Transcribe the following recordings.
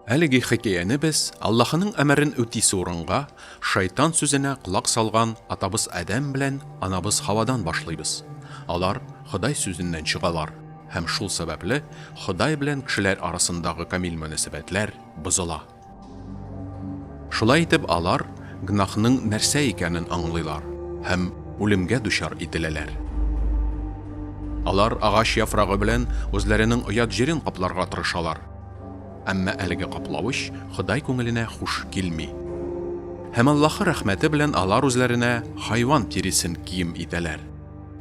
Әлеге хикәяне без Аллаһының әмерен үтисе урынга шайтан сүзенә колак салган атабыз Адәм белән анабыз Хавадан башлыйбыз. Алар Ходай сүзеннән чыгалар һәм шул сәбәпле Ходай белән кешеләр арасындагы камил мөнәсәбәтләр бозыла. Шулай итеп алар гөнаһның нәрсә икәнен аңлыйлар һәм үлемгә дучар ителәләр. Алар агач яфрагы белән үзләренең оят җирен капларга тырышалар, әмма әлеге каплавыч Ходай күңеленә хуш килми. Һәм Аллаһы рәхмәте белән алар үзләренә хайван тиресен кием итәләр.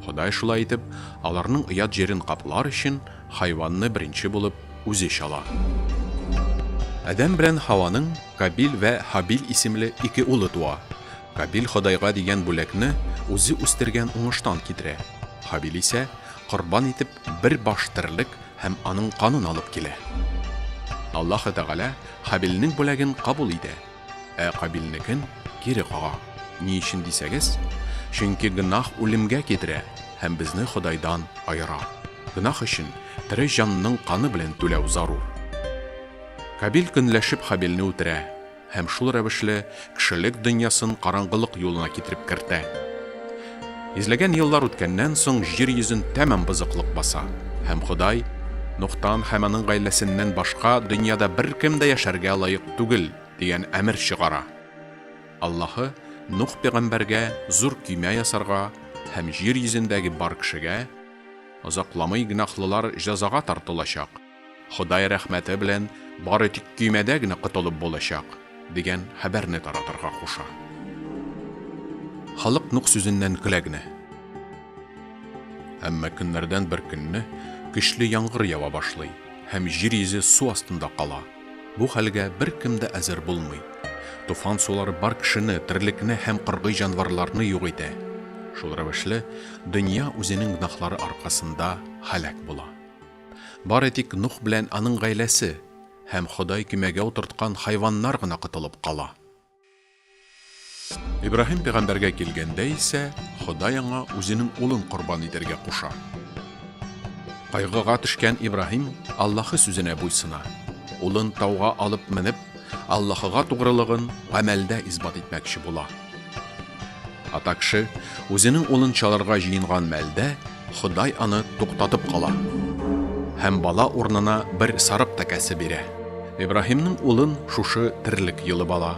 Ходай шулай итеп аларның оят җирен каплар өчен Хайванны беренче булып үзе чала. Адәм белән Һаваның Кабил вә Һабил исемле ике улы туа. Кабил Ходайга дигән бүләкне үзе үстергән уңыштан китерә. Һабил исә корбан итеп бер баш терлек һәм аның канын алып килә. Аллаһы Тәгалә Һабилнең бүләген кабул итә. Ә Кабилнекен кире кага. Ни өчен дисәгез, чөнки гөнаһ үлемгә китерә һәм безне Ходайдан аера. Гөнаһ өчен тере җанның каны белән түләү зарур. Кабил көнләшеп Хабилне үтерә һәм шул рәвешле кешелек дөньясын караңгылык юлына китереп кертә. Йөзләгән еллар үткәннән соң җир йөзен тәмам бозыклык баса, һәм Ходай, Нухтан һәм аның гаиләсеннән башка дөньяда беркем дә яшәргә лаек түгел, дигән әмер чыгара. Аллаһы Нух пәйгамбәргә зур көймә ясарга һәм җир йөзендәге бар кешегә, Озакламый гөнаһлылар җәзага тартылачак. Ходай рәхмәте белән бары тик көймәдә генә котылып булачак, дигән хәбәрне таратырга куша. Халык Нух сүзеннән көлә генә. Әмма көннәрдән бер көнне көчле яңгыр ява башлый һәм җир йөзе су астында кала. Бу хәлгә беркем дә әзер булмый. Туфан сулары бар кешене, терлекне һәм кыргый җанварларны юк итә. Шул рәвешле, дөнья үзенең гөнаһлары аркасында һәлак була. Бары тик Нух белән аның гаиләсе һәм Ходай көймәгә утырткан хайваннар гына котылып кала. Ибраһим пәйгамбәргә килгәндә исә, Ходай аңа үзенең улын корбан итәргә куша. Кайгыга төшкән Ибраһим Аллаһы сүзенә буйсына. Улын тауга алып менеп, Аллаһыга тугрылыгын гамәлдә исбат итмәкче була. Ата кеше үзенең улын чалырга җыенган мәлдә, Ходай аны туктатып кала. Һәм бала урынына бер сарык тәкәсе бирә. Ибраһимның улын шушы терлек йолып ала.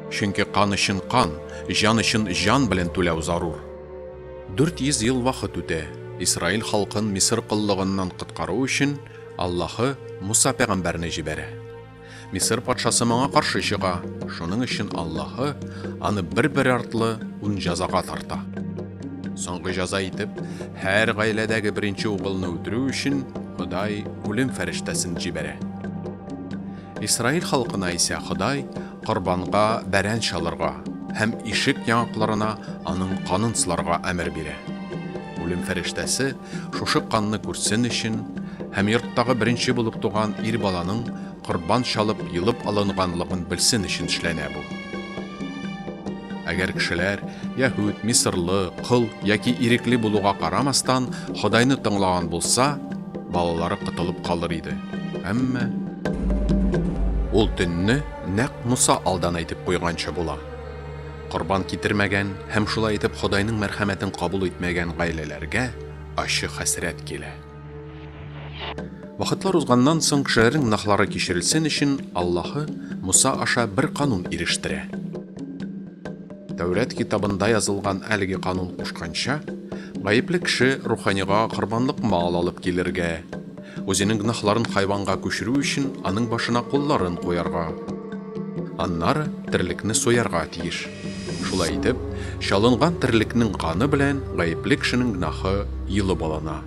Чөнки кан өчен кан, җан өчен җан белән түләү зарур. 400 ел вакыт үтә. Исраил халкын Мисыр коллыгыннан коткару өчен Аллаһы Муса пәйгамбәрне җибәрә. Мисыр патшасы моңа каршы чыга, шуның өчен Аллаһы аны бер-бер артлы ун җәзага тарта. Соңгы җәза итеп, һәр гаиләдәге беренче угылны үтерү өчен Ходай үлем фәрештәсен җибәрә. Исраил халкына исә Ходай корбанга бәрән чалырга һәм ишек яңакларына аның канын сыларга әмер бирә. Үлем фәрештәсе Шушы канны күрсен өчен һәм йорттагы беренче булып туган ир баланың корбан чалып, йолып алынганлыгын белсен өчен эшләнә бу. Әгәр кешеләр, яһүд, мисырлы, кол яки ирекле булуга карамастан, Ходайны тыңлаган булса, балалары котылып калыр иде. Әмма. Ул төнне нәкъ Муса алдан әйтеп куйганча була. Корбан китермәгән һәм шулай итеп Ходайның мәрхәмәтен кабул итмәгән гаиләләргә ачы хәсрәт килә. Вакытлар узганнан соң кешеләрнең гөнаһлары кичерелсен өчен Аллаһы Муса аша бер канун ирештерә. Тәүрат китабында язылган әлеге канун кушканча, гаепле кеше руханига корбанлык мал алып килергә, Үзенең гөнаһларын хайванга күчерү өчен аның башына кулларын куярга. Аннары терлекне суярга тиеш. Шулай итеп, чалынган терлекнең каны белән гаепле кешенең гөнаһы йолып алына.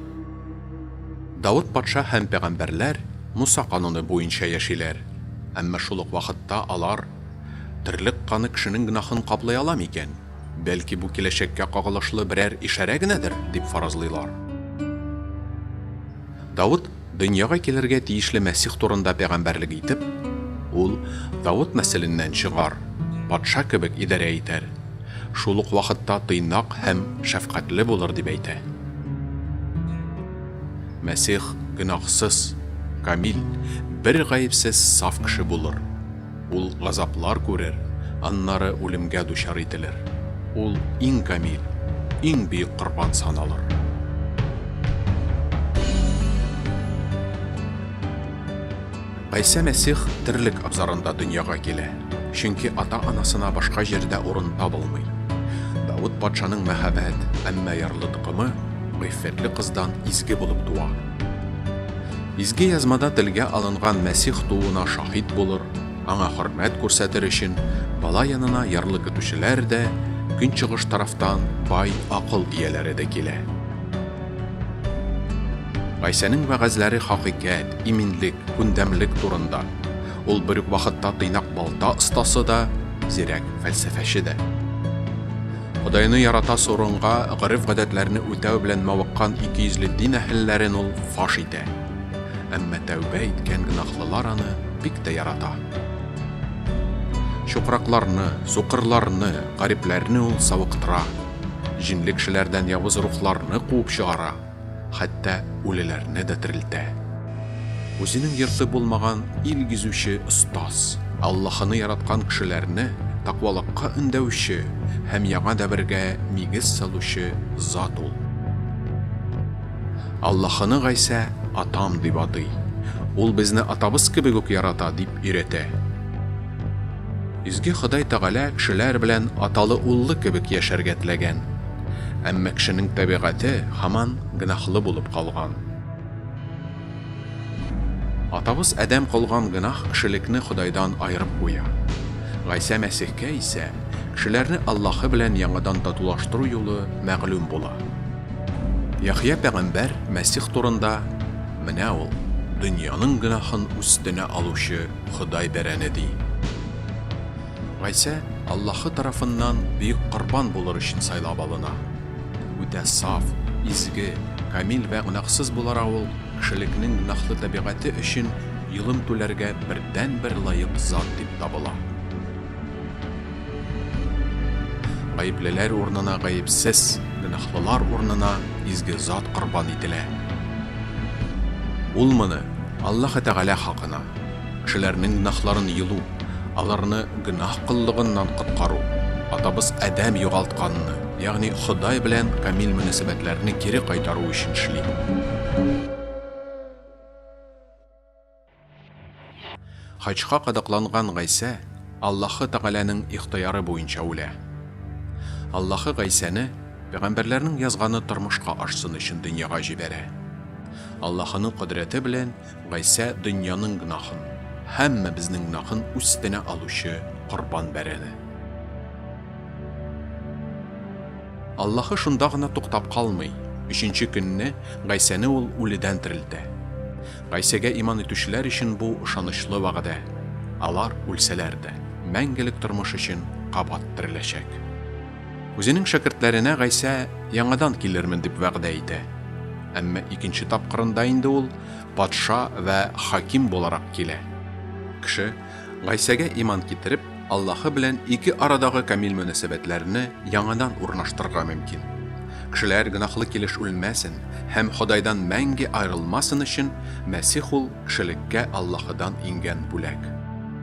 Давыт патша һәм пәгамбәрләр Муса кануны буенча яшиләр, әмма шул ук вакытта алар, Терлек каны кешенең гөнаһын каплый ала микән? Бәлки бу киләчәккә кагылышлы берәр ишарә генәдер, дип фаразлыйлар. Давыт дөньяга килергә тиешле Мәсих турында пәйгамбәрлек итеп, Ул Давыт нәселеннән чыгар, патша кебек идарә итәр, шул ук вакытта тыйнак һәм шәфкатьле булыр, дип әйтә. Мәсих гөнаһсыз, камил, бер гаепсез саф кеше булыр. Ул газаплар күрер, аннары үлемгә дучар ителер. Ул иң камил, иң бөек корбан саналыр. Гайсә Мәсих терлек абзарында дөньяга килә, чөнки ата-анасына башка җирдә урын табылмый. Давыт патшаның мәһабәт, әмма ярлы токымы гыйффәтле кыздан изге булып туа. Изге Язмада телгә алынган Мәсих тууына шаһит булыр, аңа хөрмәт күрсәтер өчен бала янына ярлы көтүчеләр дә, көнчыгыш тарафтан бай акыл ияләре дә килә. Гайсәнең вәгазьләре хакыйкать, иминлек, күндәмлек турында. Ул бер үк вакытта тыйнак балта остасы да, зирәк фәлсәфәче дә. Ходайны ярата сорынга, гореф-гадәтләрне үтәү белән мавыккан икейөзле дин әһелләрен ул фаш итә. Әмма тәүбә иткән гөнаһлылар аны бик тә ярата. Чукракларны, сукырларны, гарипләрне ул савыктыра, җинле кешеләрдән явыз рухларны куып чыгара. хәтта үлеләрне дә терелтә. Үзенең йорты булмаган ил гизүче остаз. Аллаһыны яраткан кешеләрне тәкъвалыкка өндәүче һәм яңа дәвергә нигез салучы зат ул. Аллаһыны Гайсә атам дип атый. Ул безне атабыз кебек үк ярата, дип өйрәтә. Изге Ходай Тәгалә кешеләр белән аталы-уллы кебек яшәргә теләгән. Әмма кешенең табигате һаман гөнаһлы булып калган. Атабыз Адәм кылган гөнаһ кешелекне Ходайдан аерып куя. Гайсә Мәсихкә исә кешеләрне Аллаһы белән яңадан татулаштыру юлы мәгълүм була. Яхъя пәгамбәр Мәсих турында, Менә ул, дөньяның гөнаһын үстенә алучы Ходай бәрәне, ди. Гайсә Аллаһы тарафыннан бөек корбан булыр өчен сайлап алына. Үтә саф, изге, камил вә гөнаһсыз булара ул, кешелекнең гөнаһлы табигате өчен йолым түләргә бердәнбер лаек зат дип табыла. Гаеплеләр урынына гаепсез, гөнаһлылар урынына изге зат корбан ителә. Ул моны Аллаһы Тәгалә хакына, Кешеләрнең гөнаһларын йолу, аларны гөнаһ коллыгыннан коткару, атабыз Адәм югалтканны, ягъни Ходай белән камил мөнәсәбәтләрне кире кайтару өчен эшли. Хаҗка кадакланган Гайсә Аллаһы Тәгаләнең ихтыяры буенча үлә. Аллаһы Гайсәне пәйгамбәрләрнең язганы тормышка ашсын өчен дөньяга җибәрә. Аллаһының кодрәте белән Гайсә дөньяның гөнаһын, һәммәбезнең гөнаһын үстенә алучы корбан бәрәне. Аллаһы шунда гына туктап калмый, өченче көнне Гайсәне Ул үледән терелтә. Гайсәгә иман итүчеләр өчен бу ышанычлы вәгъдә, алар, үлсәләр дә, мәңгелек тормыш өчен кабат тереләчәк. Үзенең шәкертләренә Гайсә яңадан килермен дип вәгъдә итә. Әмма икенче тапкырында инде ул патша вә хаким буларак килә. Кеше, Гайсәгә иман китереп, Аллаһы белән ике арадагы камил мөнәсәбәтләрне яңадан урнаштырырга мөмкин. Кешеләр гөнаһлы килеш үлмәсен һәм Ходайдан мәңге аерылмасын өчен, Мәсих ул, кешелеккә Аллаһыдан иңгән бүләк.